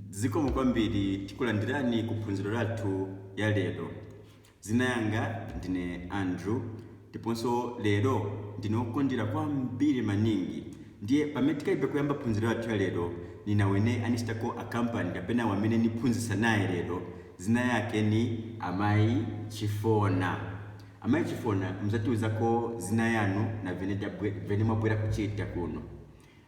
Zikomo kwambiri tikulandirani ku phunziro lathu ya lero. Dzina yanga ndine Andrew ndiponso lero ndine wokondwera kwambiri maningi ndiye pamene tikalibe kuyamba phunziro lathu ya lero nina wamene anichitako akampani kapena wamene niphunzitsa naye lero dzina yake ni amayi chifona amayi chifona muzatiuzako dzina yanu na vamene mwabwera kuchita kuno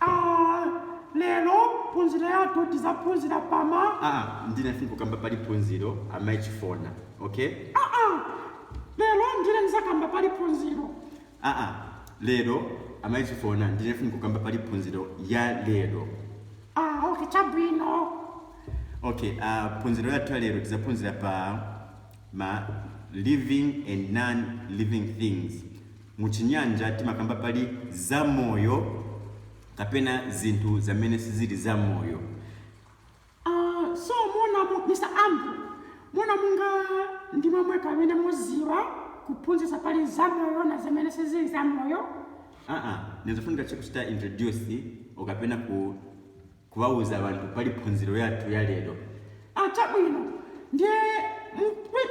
a Lelo phunzilo yathu tizaphunzila pa ma. aa ndine nifunika kamba pali phunzilo amai chifona okay. aa Lelo ndine nizakamba pali phunzilo. aa Lelo amai chifona ndine nifunika kamba pali phunzilo ya lelo. aa okay chabwino. okay a phunzilo yathu ya lelo tizaphunzila pa ma living and non living things Mu chinyanja timakamba pali zamoyo kapena zinthu zamene sizili zamoyo. Aaa so mona mu Mr Andrew mona munga ndimwe mweka amene muziwa kuphunzisa pali zamoyo na zamene sizili zamoyo. Aa nizofunika che kuchita introduce okapena ku. Kuwauza bantu pali phunziro yathu ya lero. A, chabwino. Ndiye mu,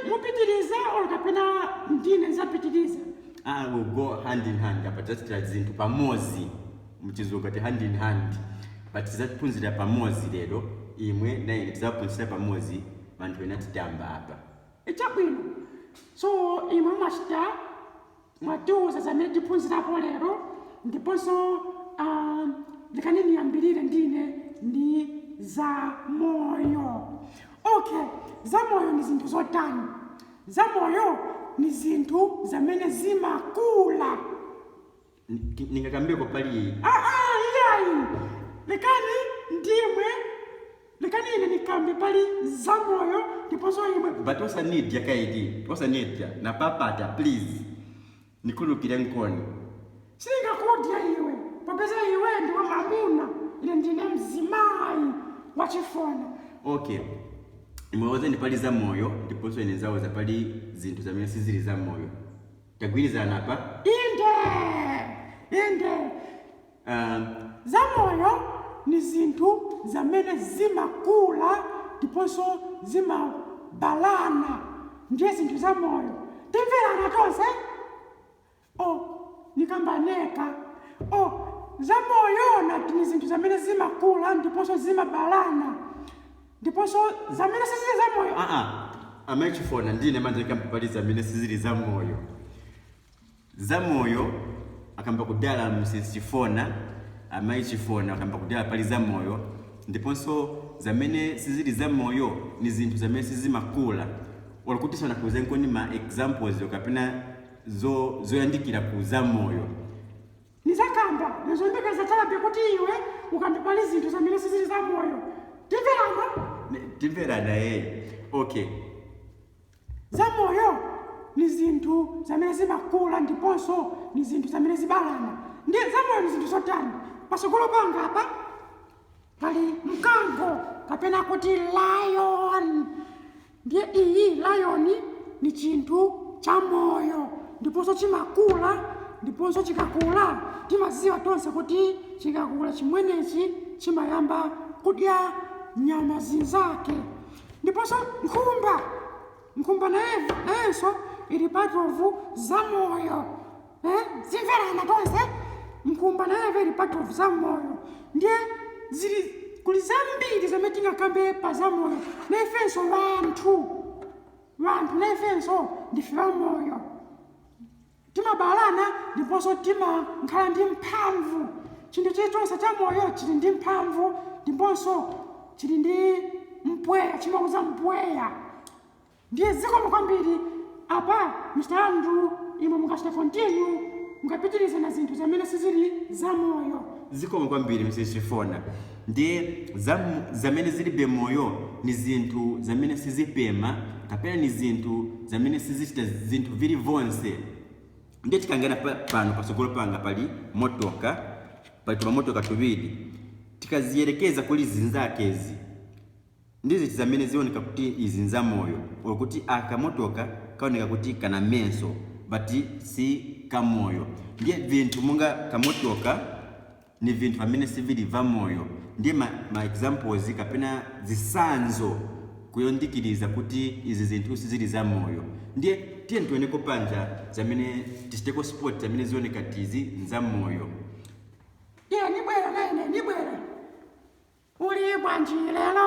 mupitirize or kapena ndine nzapitiriza? A, we'll go hand in hand apa tidzachitira zinthu pamodzi, mu chizungu ati hand in hand, but tidzaphunzira pamodzi lero, imwe na ine tidzaphunzira pamodzi banthu ena atimva apa. E, chabwino. So, imwe mumachita. mwatiuza zamene tiphunzirako lero ndiponso um, lekani niyambirire ndine ndi zamoyo okay zamoyo ni zinthu zotani zamoyo ni zinthu zamene zimakula ningakambe pali ah, ah, iyayi lekani ndimwe Lekani ine nikambe pali za moyo ndiponso imwe. But osanidya kaili osanidya napapata please nikhululukirenkoni. Siningakudye iwe popeza iwe ndiwe mamuna ine ndine mzimayi wa Chifona. Ok imwe auzeni pali za moyo ndiponso ine nizauza pali zinthu zamene sizili za moyo tagwirizana apa? Inde! Inde! Zamoyo ni zinthu zamene zimakula ndiponso zimabalana. Ndiye zinthu zamoyo timvelana tonse? Oh, nikamba neka. Oh, zamoyo nati ni zinthu zamene zimakula ndiponso zimabalana, ndiponso zamene sizili zamoyo. Ah-ah, Amai Chifona, ndine manje nikamba pali zamene sizili zamoyo. Zamoyo akamba kudala Mrs Chifona, Amai Chifona akamba kudala pali zamoyo ndiponso zamene sizili zamoyo ni zinthu zamene sizimakula olo kuti sanakuuzenkoni ma examples or kapena zo zoyandikira ku zamoyo. Nizakamba nayembekeza chabe kuti iwe ukambe pali zinthu zamene sizili zamoyo. Timverana? Timverana ee. Okay. Zamoyo ni zinthu zamene zimakula ndiponso ni zinthu zamene zibalana. Ndiye zamoyo ni zinthu zotani? Patsogolo panga apa pali mkango kapena kuti lion. Ndiye iyi lion ni cinthu camoyo ndiponso cimakula, ndiponso cikakula timaziwa tonse kuti cikakula cimweneci cimayamba kudya nyama zinzake. Ndiponso nkhumba, nkhumba naye nayenso ili part of zamoyo eh zimverana tonse nkhumba nayevo ili part of zamoyo ndiye zili kuli zambiri zamene tingakambe pa zamoyo naifenso vanthu vanthu naifenso ndife vamoyo Timabalana ndiponso timakhala ndi mphamvu. Chinthu chilichonse chamoyo chili ndi mphamvu ndiponso chili ndi mpweya, chimauza mpweya. Ndiye zikomo kwambiri. Apa Mr Andrew imwe mungachita continue, mungapitiliza na zinthu zamene sizili zamoyo. Zikomo kwambiri Mrs Trifona. Ndiye zam, zamene zilibe moyo ni zinthu zamene sizipema kapena ni zinthu zamene sizicita zinthu vili vonse. Ndiye tikangana pa, pano pasogolo panga pali motoka, pali tumamotoka tubili, tikaziyelekeza kuli zinzakezi ndi ziti zamene zioneka kuti izi nza moyo or kuti aka motoka kaoneka kuti kana menso but si kamoyo. Ndiye vinthu monga kamotoka ni vinthu vamene sivili vamoyo, ndiye ma, ma examples kapena zisanzo kuyondikiliza kuti izi zinthu sizili zamoyo. Ndiye tiyeni tioneko panja zamene tichiteko spot zamene zioneka kti izi nzamoyo. Iye nibwera naine nibwera. Uli bwanji lelo?